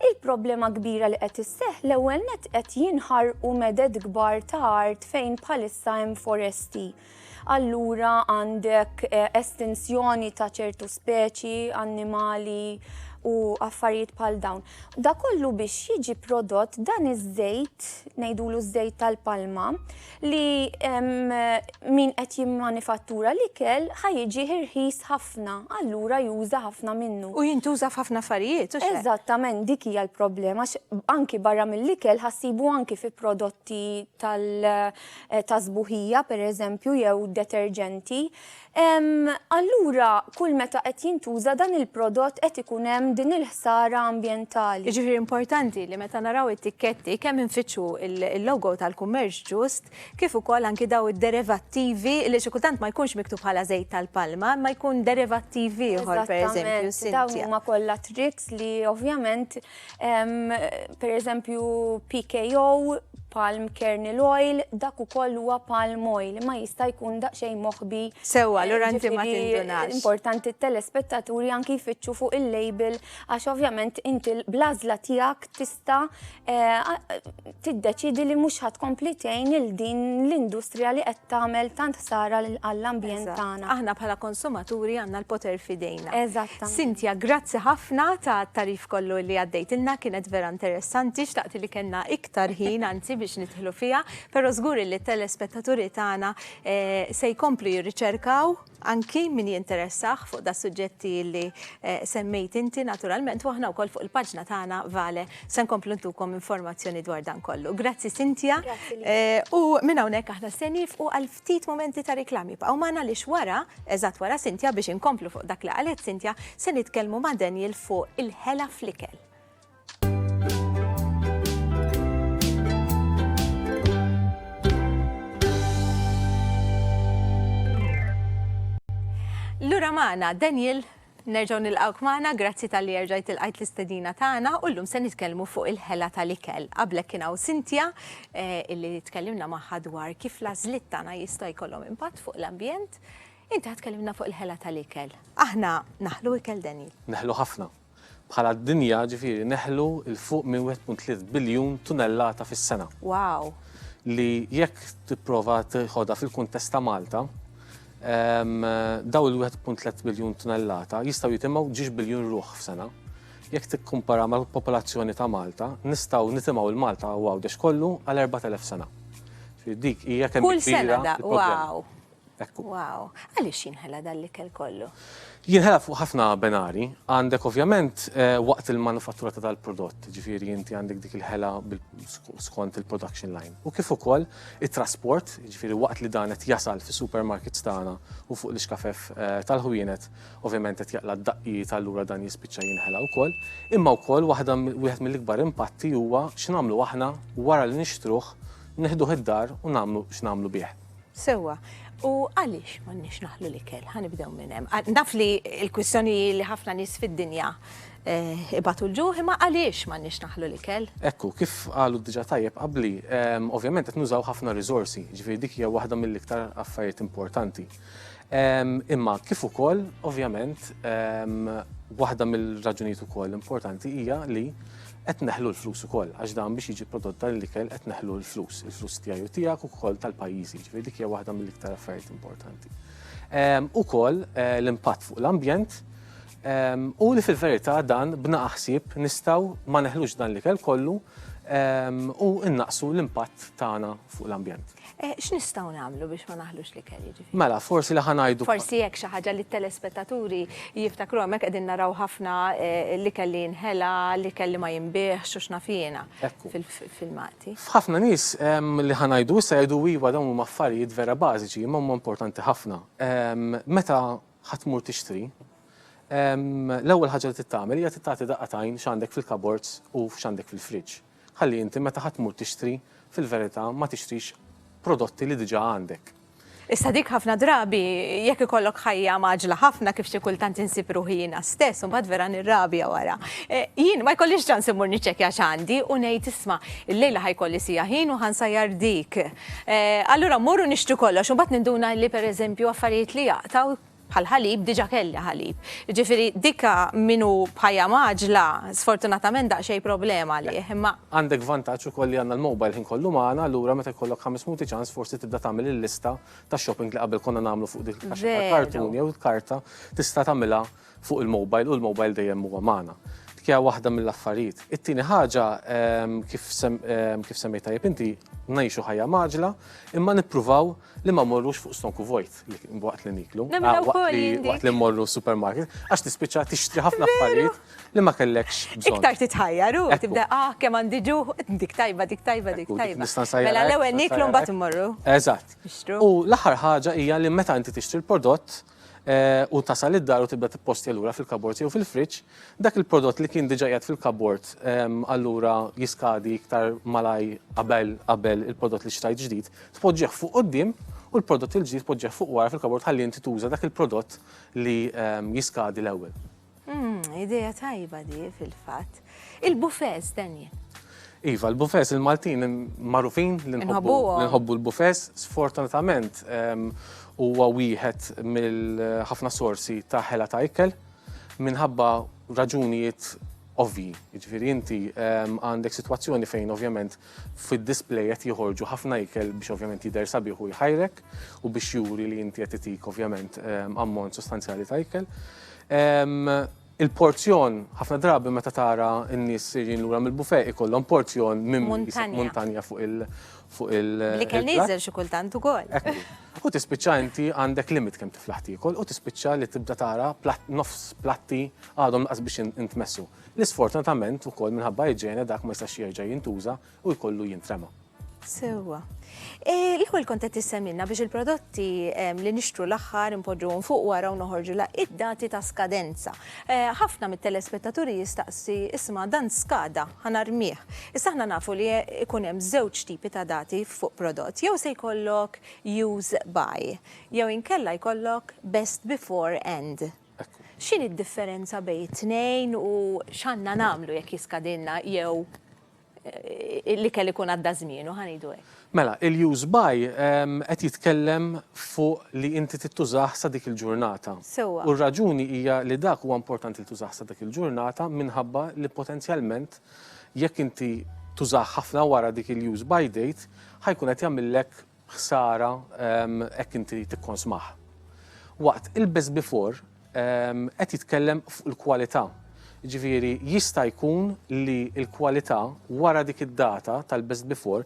il-problema kbira li qed isseħħ l-ewwel nett qed jinħarqu meded kbar ta' art fejn bħalissa hemm foresti. Allura għandek estinzjoni ta' ċertu speċi, annimali u affarijiet bħal dawn. Da kollu biex jiġi prodott dan iż-żejt, ngħidulu ż-żejt tal-palma, li min qed jimmanifattura l-ikel ħajġi ħirħis ħafna, allura juża ħafna minnu. U jintuża f'ħafna affarijiet, u Eżattament, dik hija l-problema, anki barra mill-ikel ħassibu anki fi prodotti tal-sbuħija, pereżempju, jew deterġenti. allura kull meta qed jintuża dan il-prodott qed ikun hemm din il-ħsara ambjentali. Jiġifieri importanti li meta naraw it-tikketti kemm infittxu l-logo tal-kummerċ ġust kif ukoll anki daw id-derivattivi li xi kultant ma jkunx miktub bħala żejt tal-palma imma jkun derivattiv ieħor pereżempju. Eżattament, dawn huma kollha tricks li ovvjament Per eżempju, PKO, palm kernel oil, dak ukoll huwa palm oil, ma jista' jkun daqsxejn moħbi. Sewwa, allura inti ma tindunax. Importanti t-telespettaturi anki jfittxu fuq il-label għax ovvjament inti bl-għażla tiegħek tista' tiddeċiedi li mhux ħa tkompli tgħin il din l-industrija li qed tagħmel tant ħsara għall-ambjent tagħna. Aħna bħala konsumaturi għandna l-poter f'idejna. Eżattament. Sintja, grazzi ħafna ta' tarif kollu li għaddejtilna, kienet vera interessanti, xtaqt li kellna iktar ħin anzi biex nidħlu fiha, però żgur li t-telespettaturi tagħna eh, se jkomplu jirriċerkaw Anki min jinteressah fuq das-suġġetti li semmejt inti naturalment u aħna wkoll fuq il-paġna tagħna Vale se nkomplu ntukom informazzjoni dwar dan kollu. Grazzi Cynthia. U minn hawnhekk aħna se niefqu għal ftit mumenti ta' reklam. Ibqgħu magħna għaliex wara, eżatt wara Cynthia biex inkomplu fuq dak li qalet Cynthia, se nitkellmu ma' Daniel fuq il-ħela fl-ikel. Lura maħna, Daniel, nerġaw nil-għawk maħna, grazzi tal-li erġajt il-għajt l-istedina taħna, u l-lum se nitkellmu fuq il-ħela tal-ikel. Qablek kienaw Sintja, eh, illi tkellimna maħħa dwar kif lażlit tagħna jista' jkollhom impatt fuq l-ambjent, inti tkellimna fuq il-ħela tal-ikel. Aħna naħlu ikel Daniel. Naħlu ħafna. Bħala dinja, ġifieri, neħlu 'l fuq minn 1.3 biljun tunellata fis-sena. Wow! Li jekk tipprova tiħodha fil-kuntest ta' Malta, dawn il-1.3 biljun tunellata jistgħu jitimgħu ġiex biljun ruħ f'sena. Jekk tikkumparaha mal-popolazzjoni ta' Malta, nistgħu nitimgħu 'l Malta u Għawdex kollu għal 4,000 sena. Dik hija kemm hi kbira l-problema. Kull sena da, wow! Ekku. Wow, għaliex jinħela dan l-ikel kollu? Jinħela fuq ħafna benari, għandek ovvjament eh, waqt il-manufattura ta' dal-prodott, ġifiri inti għandek dik il-ħela skont il-production line. U kif ukoll it-trasport, ġifiri waqt li dan qed jasal fis supermarkets tagħna u fuq l-iskafef eh, tal-ħwienet, ovvjament qed jaqla d-daqqijiet tal-lura dan jispiċċa jinħela wkoll. Imma wkoll waħda wieħed mill-ikbar impatti huwa x'namlu aħna wara li nixtruh neħduh id-dar u nagħmlu x'namlu bih. Sewwa, u għaliex m'għandniex naħlu l-ikel? Ħa nibdew minn hemm. Ah, naf li l-kwistjoni hi li ħafna nies fid-dinja eh, ibatu l-ġuħ, imma għaliex m'għandniex naħlu l-ikel? Ekku, kif qalu diġa tajjeb qabli, ehm, ovvjament qed nużaw ħafna riżorsi, ġifieri dik hija waħda mill-iktar affarijiet importanti. Ehm, imma kif ukoll, ovvjament, ehm, waħda mill-raġunijiet ukoll importanti hija li Qed neħlu l-flus ukoll, għax dan biex jiġi prodott dan l-ikel qed neħlu l-flus, il-flus tiegħi u tiegħek u wkoll tal-pajjiżi, jiġifieri dik hija waħda mill-iktar affarijiet importanti. Ukoll eh, l-impatt fuq l-ambjent u li fil-verità dan bna aħsib nistgħu ma neħlux dan l-ikel kollu u innaqsu l-impatt tagħna fuq l-ambjent. Eh, x'nistgħu nagħmlu biex ma naħlux li kelli ġifi? Mela, forsi li ħanajdu. Forsi jekk xi ħaġa li telespettaturi jiftakru hemmhekk qegħdin naraw ħafna eh, li kelli nħela, li kelli ma jinbih, xux nafina fil-filmati. Ħafna nies ehm, li ħanajdu issa jgħidu iva dawn huma affarijiet vera bażiċi, imma huma importanti ħafna. Ehm, meta ħatmur tixtri, ehm, l-ewwel ħaġa li tittamel hija titagħti daqqa tajn x'għandek fil-kabords u x'għandek fil-friġġ. Ħalli inti meta ħa tmur tixtri, fil-verità ma tixtrix prodotti li diġà għandek. Issa dik ħafna drabi, jekk ikollok ħajja mgħaġġla ħafna kif xi kultant insib ruħi jiena stess u mbagħad vera nirrabja wara. Eh, jien ma jkollix ċans immur niċċekkja x'għandi u ngħid isma' illejla ħajkolli sija ħin u ħansajjar dik. Eh, allura mmur u nixtru kollox u mbagħad ninduna li pereżempju affarijiet li jaqtaw bħal ħalib diġa kelli ħalib. Jiġifieri dik min hu b'ħajja mgħaġġla sfortunatament daqsxejn problema għalih, imma. Għandek vantaġġ ukoll li għandna l-mobile ħin kollu magħna, allura meta jkollok ħames minuti ċans forsi tibda tagħmel il-lista tax-shopping li qabel konna nagħmlu fuq dik il-kaxxa tal-kartun jew il-karta tista' tagħmilha fuq il-mobile u l-mobile dejjem huwa magħna. Dik hija waħda mill-affarijiet. It-tieni ħaġa kif semmejt tajjeb inti ngħixu ħajja mgħaġġla imma nippruvaw li ma morrux fuq stonku vojt li waqt li niklu, waqt li morru supermarket, għax tispiċċa tixtri ħafna affarijiet li ma kellekx bżonn. Iktar titħajjar u tibda ah kemm għandi ġuħ, dik tajba, dik tajba, dik tajba. Mela l-ewwel niklu mbagħad immorru. Eżatt. U l-aħħar ħaġa hija li meta inti tixtri l-prodott, u tasal id-dar u tibda tippostja lura fil-kabord jew fil-friġġ, dak il-prodott li kien diġà qiegħed fil-kabord allura jiskadi iktar malaj qabel qabel il-prodott li xtrajt ġdid, tpoġġih fuq quddiem u l-prodott il-ġdid tpoġġih fuq wara fil-kabord ħalli inti tuża dak il-prodott li jiskadi l-ewwel. Hmm, ideja tajba di fil-fatt. Il-bufes, Daniel. Iva, l-bufes il-Maltin marufin li nħobbu l-bufes, sfortunatament ehm, huwa wieħed mill-ħafna sorsi ta' ħela ta' ikel minħabba raġunijiet ovvi. Ġifieri inti ehm, għandek sitwazzjoni fejn ovvjament Fid-display qed joħorġu ħafna ikel biex ovvjament jidher sabiħ u jħajrek u biex juri li inti qed itik ovvjament ammont sostanzjali ta' ikel. Il-porzjon ħafna drabi meta tara n-nies sejrin lura mill-buffet ikollhom porzjon minn muntanja fuq il- L-ikel nieżel xi kultant ukoll. U tispiċċa inti għandek limit kemm tiflaħ tiekol u tispiċċa li tibda tara nofs platti għadhom lanqas biex intmessu. Li sfortunatament ukoll minħabba iġene dak ma jistax jerġa' jintuża u jkollu jintrema. Sewwa. E, l-ewwel kont qed tissemilna biex il-prodotti li nixtru l-aħħar impoġġuhom fuq wara u noħorġu la id-dati ta' skadenza. E, ħafna mit-telespettaturi jistaqsi isma' dan skada ħanarmih. Issa aħna nafu li ikun hemm żewġ tipi ta' dati fuq prodott. Jew se jkollok use by, jew inkella jkollok best before end. X'inhi d-differenza bejn it-tnejn u x'għandna nagħmlu jekk jiskadilna jew l-ikel ikun għadda żmienu, ħa ngħidu hekk? Mela, il-use by qed jitkellem fuq li inti trid tużah sa dik il-ġurnata. Sewwa. U r-raġuni hija li dak huwa importanti li tużah sa dik il-ġurnata minħabba li potenzjalment jekk inti tużah ħafna wara dik il-use by date ħa jkun qed jagħmillek ħsara hekk inti tikkonsmah. Waqt il-best before qed jitkellem fuq il-kwalità. Jiġifieri jista' jkun li l-kwalità wara dik id-data tal-best before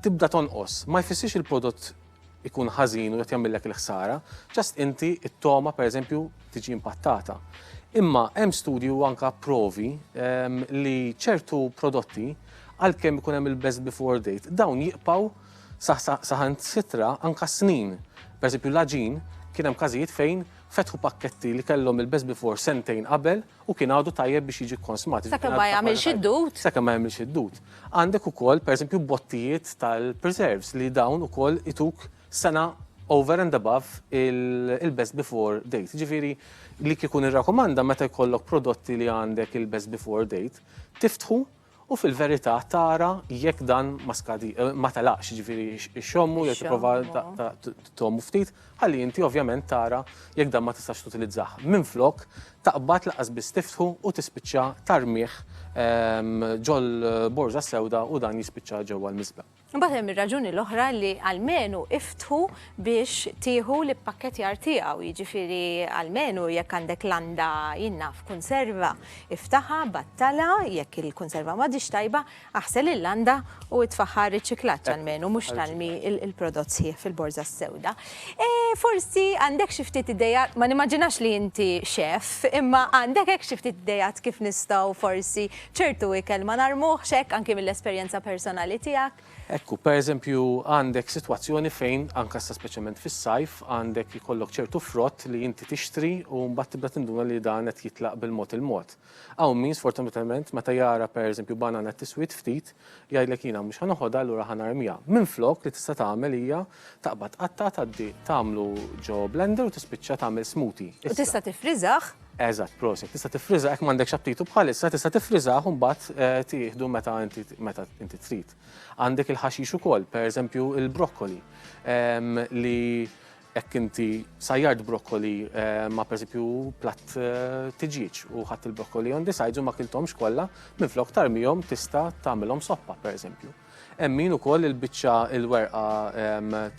tibda tonqos. Ma jfissirx il-prodott ikun ħażin u qed jagħmillek il-ħsara, just inti t-togħma pereżempju tiġi impattata. Imma hemm studji u anke provi li ċertu prodotti għalkemm ikun hemm il-best before date dawn jibqgħu Saħansitra anke s-snin. Per eżempju l-għaġin, kien hemm każijiet fejn fetħu pakketti li kellhom il-best before sentejn qabel u kien għadu tajjeb biex jiġi kkonsmat. Sakemm ma jagħmilx id-dud. Sakemm ma jagħmilx id-dud. Għandek ukoll per eżempju bottijiet tal-preserves li dawn ukoll ituk sena over and above il-best before date. Jiġifieri li kieku nirrakkomanda meta jkollok prodotti li għandek il-best before date, tiftħu u fil-verità tara jekk dan ma skadi, ma telaqx, jiġifieri ixxommu jew tipprova tgħommu ftit, ħalli inti ovvjament tara jekk dan ma tistax tutilizzah. Minflok, taqbad lanqas biss tiftħu u tispiċċa tarmih ġol-borża sewda u dan jispiċċa ġewwa l-miżbla. Imbagħad hemm ir-raġuni l-oħra li almenu iftħu biex tieħu l-ippakkettjar tiegħu, jiġifieri almenu jekk għandek landa jinnaf kunserva, iftaħha, battalha, jekk il-kunserva m'għadhiex tajba, aħsel il-landa u itfagħha għar-riċiklaġġ almenu mhux tarmi l-prodott sħiħ fil-borża s-sewda. Forsi għandek xi ftit ideat, ma nimmaġinax li inti chef, imma għandek hekk xi ftit ideat kif nistgħu forsi Ċertu ikel ma narmuhx hekk anki mill-esperjenza personali tiegħek. Ekku, pereżempju, għandek sitwazzjoni fejn, anke sa speċjalment fis-sajf, għandek ikollok ċertu frott li inti tixtri u mbagħad tibda tinduna li dan qed jitlaq bil-mod il-mod. Hawn min sfortunatament meta jara pereżempju banana tiswid ftit, Jgħidlek jiena mhux ħa noħodha allura ħa narmiha. Minflok li tista' tagħmel hija taqbad qatta' tgħaddi tagħmlu ġo blender u tispiċċa tagħmel smoothie. U tista' tifriżah? Eżatt, prosit. Tista' tifriżha jekk m'għandekx aptitu bħalissa, tista' tifriżah u mbagħad eh, tieħdu meta inti meta inti trid. Għandek il-ħaxix ukoll, pereżempju il-brokkoli ehm, li Jekk inti sajjart brokkoli ma pereżempju platt tiġieġ u ħadd il-brokkoli on the sides u ma kiltomx kollha, minflok tarmihom tista' tagħmilhom soppa pereżempju. Hemm min ukoll il-biċċa il-werqa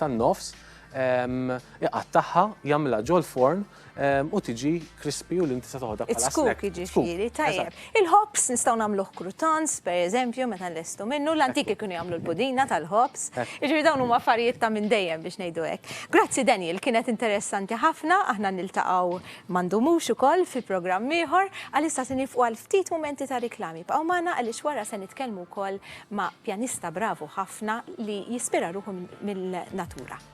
tan-nofs iqattagħha, jagħmilha ġol-forn Ehm, u tiġi krispi u l-inti sa toħda bħala snack. ġifiri, tajjeb. Il-hops nistaw namluħ krutans, per eżempju, meta l-estu minnu, l-antiki kienu jamlu l-pudina tal-hops. Ġifiri dawn huma affarijiet ta' minn dejjem biex nejdu hekk. Grazzi Daniel, kienet interessanti ħafna, aħna niltaqgħu mandumux ukoll fi programm ieħor, għalissa se nifqu għal ftit momenti ta' riklami. Bqgħu magħna għaliex wara se nitkellmu wkoll ma' pjanista bravu ħafna li jispira ruħu mill-natura.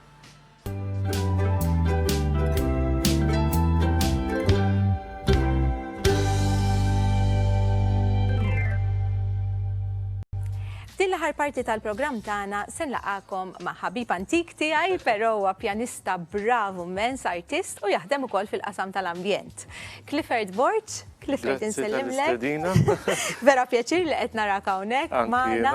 F'din l-aħħar parti tal-programm tagħna se nlaqakom ma' ħabib antik tiegħi, però huwa pjanista bravu mens artist u jaħdem ukoll fil-qasam tal-ambjent. Clifford Borg, Clifford insellimlek. Vera pjaċir li qed narak hawnhekk magħna.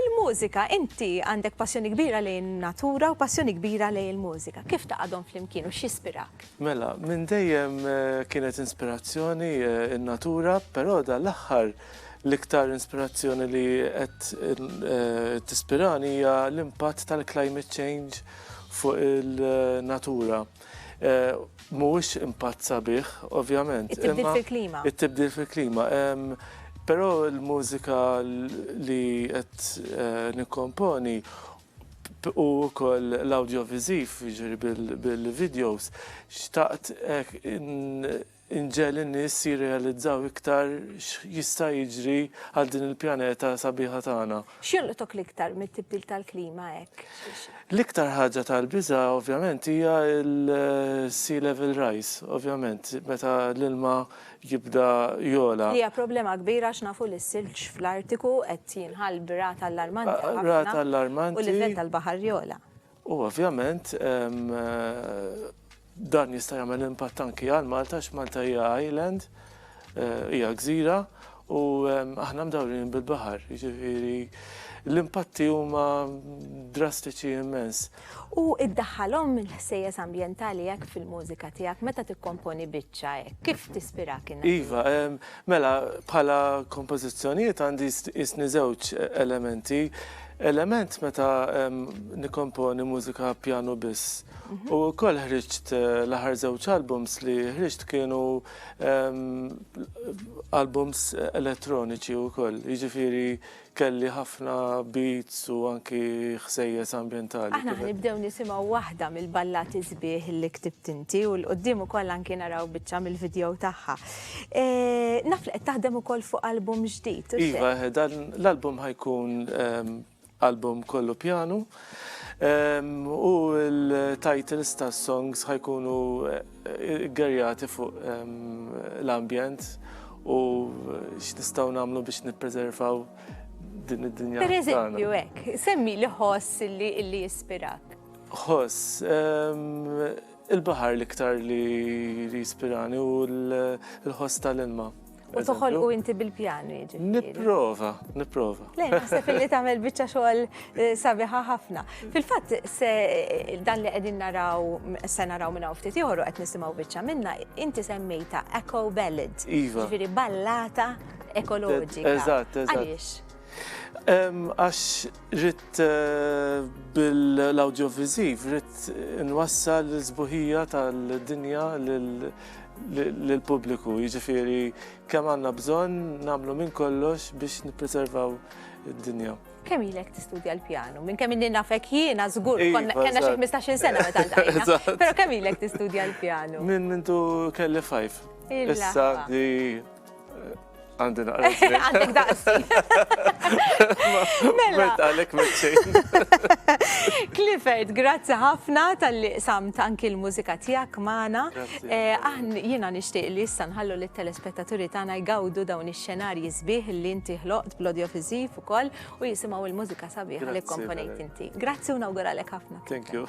Il-mużika, inti għandek passjoni kbira lejn in-natura u passjoni kbira lejn il-mużika. Kif taqadhom flimkien u x'jispirak? Mela, minn dejjem kienet inspirazzjoni n-natura, però dan l-aħħar l-iktar inspirazzjoni li qed tispirani hija l-impatt tal-climate change fuq il-natura. Mhuwiex impatt sabiħ, ovvjament. It-tibdil fil-klima. It-tibdil fil-klima. Però l-mużika li qed nikkomponi u wkoll l-awdjoviżiv, jiġri bil-videos, xtaqt Inġegħel in-nies jirrealizzaw iktar x'jista' jiġri għal din il-pjaneta sabiħa tagħna. X'jolqtok l-iktar mit-tibdil tal-klima hekk? L-iktar ħaġa tal-biża' ovvjament hija l-sea level rise, ovvjament, meta l-ilma jibda jogħla. Li hija problema kbira għax nafu li s-silġ fl-Artiku qed jinħall b'rata allarmanti ħafna u l-livell tal-baħar jogħla. U ovvjament dan jista' jagħmel impatt anki għal Malta għax Malta hija island, hija gżira u aħna mdawrin bil-baħar, jiġifieri l-impatti huma drastiċi immens. U iddaħħalhom il-ħsejjes ambjentali hekk fil-mużika tiegħek meta tikkomponi biċċa hekk, kif tispirak in-natura? Iva, mela bħala kompożizzjonijiet għandi jistni żewġ elementi, element meta nikkomponi mużika pjanu biss. U wkoll ħriġt l-aħħar żewġ albums li ħriġt kienu albums elettroniċi wkoll. Jiġifieri kelli ħafna beats u anki ħsejjes ambjentali. Aħna ħnibdew nisimgħu waħda mill-ballati sbieħ li ktibt inti u l-quddiem ukoll anki naraw biċċa mill-video tagħha. Naf li qed taħdem ukoll fuq album ġdid. Iva, dan l-album ħajkun album kollu pjanu u l-titles ta' songs ħajkunu gerjati fuq l-ambjent u x'nistgħu nagħmlu biex nippreservaw din id-dinja. Per eżempju, hekk, semmi li ħoss li jispirak. Ħoss. Il-baħar l-iktar li jispirani u l-ħoss tal-ilma. U toħol u inti bil-pjanu jiġi. Niprofa, niprofa. Lejn, naħseb li tagħmel biċċa xogħol eh, sabiħa ħafna. Fil-fatt, se eh, dan li qegħdin naraw, se naraw minn ftit ieħor u qed nisimgħu biċċa minna, inti semmejta eco ballad. Iva. Ġifieri ballata ekoloġika. Eżatt, eżatt. Għaliex? Għax Ridt bil-awdjoviżiv, ridt inwassal l-sbuħija tal-dinja lill-pubbliku, jiġifieri kemm għandna bżonn nagħmlu minn kollox biex nippreservaw id-dinja. Kemm ilek tistudja l-pjanu? Minn kemm ilni nafek jiena żgur kellna xi ħmistax-il sena meta ltqajna. Però kemm ilek tistudja l-pjanu? Minn mindu kelli fajf. Issa di Għandi naqra. Għandek daqsi. Mela. Għalek meċċejn. Clifford, grazzi ħafna tal-li samt anki l-mużika tijak maħna. Eh, aħn jina nishtiq li jissan ħallu li telespettaturi tana jgawdu dawn ix-xenarji zbieħ li inti ħloqt blodjo fizif u koll u jisimaw il-mużika sabiħ li komponejt inti. Grazzi u nawguralek ħafna. Thank you.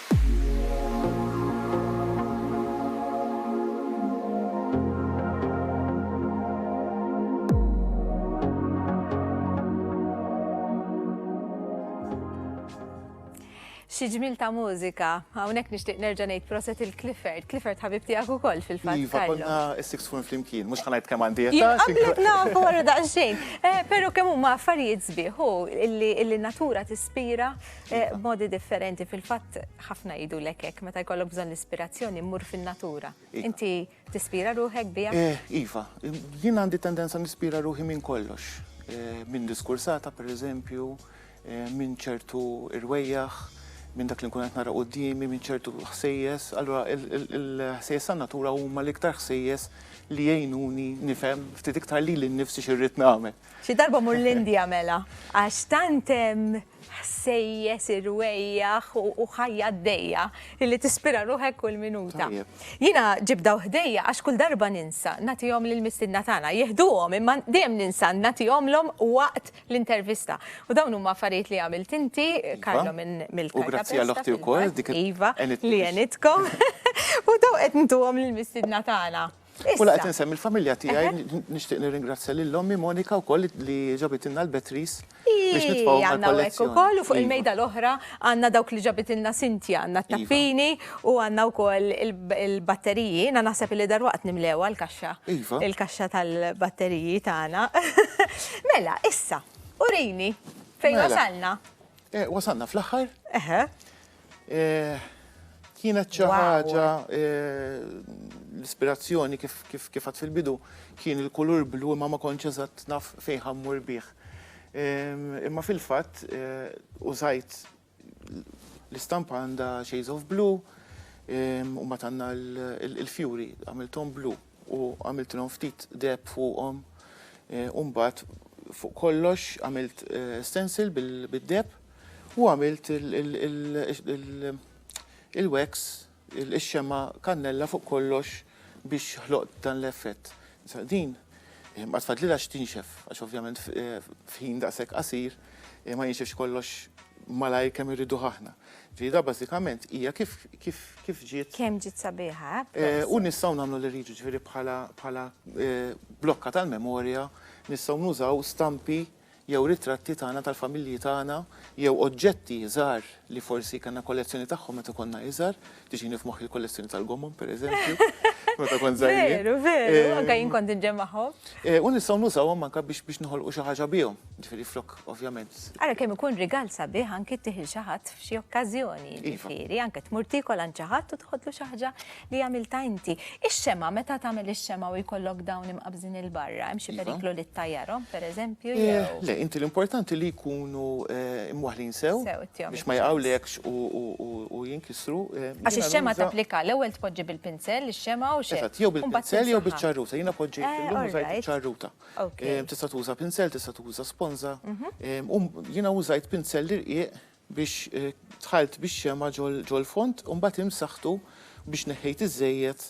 xi ġmil ta' mużika. Hawnhekk nixtieq nerġa' ngħid proset il-Clifford. Clifford ħabib tiegħek ukoll fil-fatt. Iva, konna six fun flimkien, mhux ħanajt kemm għandi qed. Qablek nafu wara daqsxejn. Eh, però kemm huma affarijiet sbieħ illi natura tispira tajjeb. Eh, iva. Modi differenti, fil-fatt ħafna jidu lekek, meta jkollok bżon l-ispirazzjoni mmur fin-natura. Iva. Inti tispira ruħek bija? Eh, iva, jien għandi tendenza nispira ruħi minn kollox. Eh, minn diskursata, per eżempju, minn ċertu irwejjaħ, minn dak li nkun qed nara qudiemi, minn ċertu ħsejjes. Allura il-ħsejjes tan natura huma l-iktar ħsejjes li jgħinuni nifhem ftit iktar li l-nifsi xirrid nagħmel. Xi darba mur l-Indja mela, għax tant hemm ħsejjes, irwejjaħ u ħajja għaddejja li tispira ruħek kull minuta. Jiena ġib daw ħdejja għax kull darba ninsa nagħtihom lill-mistiedna tagħna. Jieħduhom imma dejjem ninsa nagħtihomlhom waqt l-intervista. U dawn huma affarijiet li għamilt inti, Karlo iva. minn mill U grazzi għal oħti wkoll dik iva li għenitkom. U daw qed ntuhom lill-mistiedna tagħna. Mela qed insemmi l-familja tiegħi, nixtieq nirringrazzja lil ommi Monika wkoll li ġabitilna l-batteries biex nitfgħu mal-kollezzjoni. ukoll u fuq il-mejda l-oħra għandna dawk li ġabitilna Cynthia, għandna t-tappini u għandna wkoll il-batteriji. Jiena naħseb li dalwaqt nimlewha l-kaxxa. Iva. Il-kaxxa tal-batteriji tagħna. Mela, issa, urini fejn wasalna. Wasalna fl-aħħar. Eħe. Eh, kienet xi ħaġa eh, l-ispirazzjoni kif kif għad fil-bidu kien il-kulur blu imma ma kontx eżatt naf fejn ħammur bih. Imma fil-fatt eh, użajt l-istampa għandha Shades of Blue u ma tanna l-fjuri għamilthom blu. u għamiltilhom ftit deheb fuqhom u mbagħad fuq kollox għamilt stencil bid-deheb u għamilt il-wax ix-xemgħa kannella fuq kollox biex ħloqt dan l-effett. Issa din mbagħad fadlilha x'tinxef għax ovvjament f'ħin daqshekk qasir ma jinxefx kollox malajr kemm irriduh aħna. Ġdida bażikament hija kif kif kif ġiet. Kemm ġiet sabiħa, eh? Proset. U nistgħu nagħmlu li rridu ġifieri bħala bħala blokka tal-memorja nistgħu nużaw stampi jew ritratti tagħna tal-familji tagħna jew oġġetti żgħar li forsi kellna kollezzjoni tagħhom meta konna iżgħar Tiġini f'moħħi l-kollezzjoni tal-gommon, per eżempju, meta kont żgħir. Veru, veru, eh, anke jien kont inġem magħhom. Eh, u nistgħu nużawhom anke biex biex noħolqu xi ħaġa bihom, ġifieri flok ovvjament. Ara kemm ikun rigal sabiħ anke tiħil xi ħadd f'xi okkażjoni, iva. ġifieri anke tmur tikol għand xi ħadd u tħodlu xi ħaġa li għamilta inti. Ix-xema meta tagħmel ix-xema u jkollok dawn imqabżin il-barra, hemm xi iva. periklu li ttajjarhom pereżempju eh, jew. Le, inti l-importanti li jkunu imwaħlin sew biex ma jaqgħu lekx u jink Ministru, jiena. Għax ix-xemgħa tapplika, l-ewwel tpoġġi bil-pinsell ix-xemgħa u x'hekk. Eżatt, jew bil-pinsell jew biċ-ċarruta, jiena poġġejt illum użajt iċ-ċarruta. Tista' tuża pinsell, tista' tuża sponża. U jiena użajt pinsell irqiq biex dħalt bix-xemgħa ġol-fond u mbagħad imsaħħtu biex neħħejt iż-żejjed.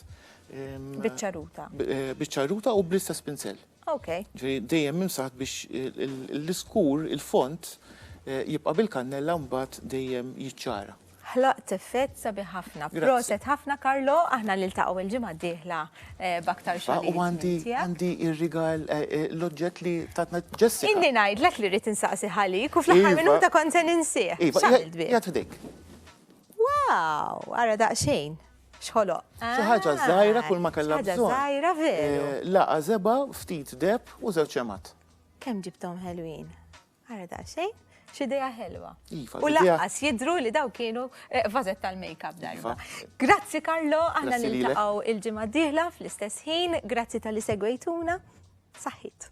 Biċ-ċarruta. Biċ-ċarruta u bl-istess pinsell. Okej. Ġifieri dejjem imsaħħt biex l-iskur, il-fond, jibqa' bil-kannella u mbagħad dejjem jiċċara. Ħlaqt effett sabiħ ħafna. Proset ħafna Karlo, aħna niltaqgħu il-ġimgħa d-dieħla eh, b'aktar xogħol. U għandi għandi ir-rigal eh, eh, l-oġġett li tatna Jessica. Inni ngħidlek li rrid insaqsi ħalik u fl-aħħar iva. minuta kont se ninsih. Iva, X'għamilt bih? jgħat f'dik. Wow, ara daqsxejn. Xħolo. Xi ħaġa ah, żgħira kull ma kellha bżonn. Ħaġa żgħira veru. Laqa żeba, ftit deb u żewġ ċemat. Kemm ġibtom ħelwin? Ara daqsxejn, x'idea ħelwa. Iva, u laqqas jidru li daw kienu vażet eh, tal-makeup darba. Iva. Grazzi Karlo, aħna niltaqgħu il-ġimgħa d-dieħla fl-istess ħin, grazzi tal-li segwejtuna. Saħħit.